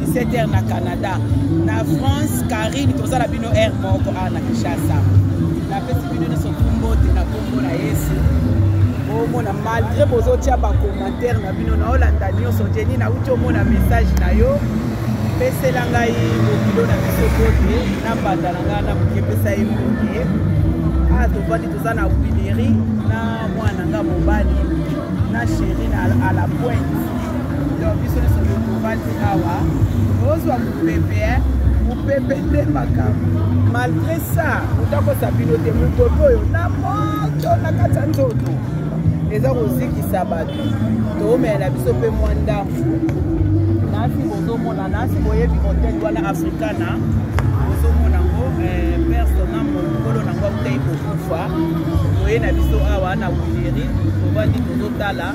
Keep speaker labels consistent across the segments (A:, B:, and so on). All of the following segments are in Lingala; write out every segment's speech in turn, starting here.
A: 17h na Canada. Na France, Karine, toza na bino heure moko awa na Kinshasa. Napesi bino nyonso mbote na kombo na Yesu. omona malgré bozotia bacommentaire na bino naolanda nyonso jeni nauti omona message na yo pesela ngai bokilo na biso bote na mbanda na ngai na moke pesa ye moke awa tofandi toza na wileri na mwana nga mobali na sheri na alapointe yo biso nyonso tovandi awa ozwa mopepe eh? mopepe nde makambo malgre ça otakosa bino te mopepe oyo na moto na kati ya nzoto eza kozikisa bato toomela na biso mpe mwa ndambo nasi bozomona nasi boyebi moteli wana africana bozomona ngo eh, persona mokolo nango akutaki kokufa toye na biso awa na wileri tovandi tozotala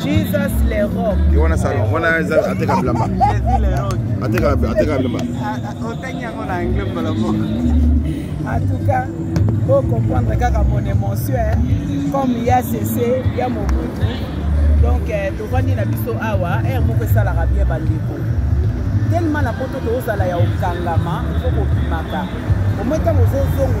A: Jesus le rock. Yo wana salon, wana
B: eza ateka bilamba. Jesus
A: le rock. Ateka ateka bilamba.
B: Otanya yango
A: na anglais mbala moko. En tout cas, faut comprendre kaka mon émotion hein. comme ya sese ya mobutu donc euh, tovandi na biso awa ere moko esalaka bien bandeko tellement na poto tozala ya okangama fo kobimaka omoi ntango ozozongo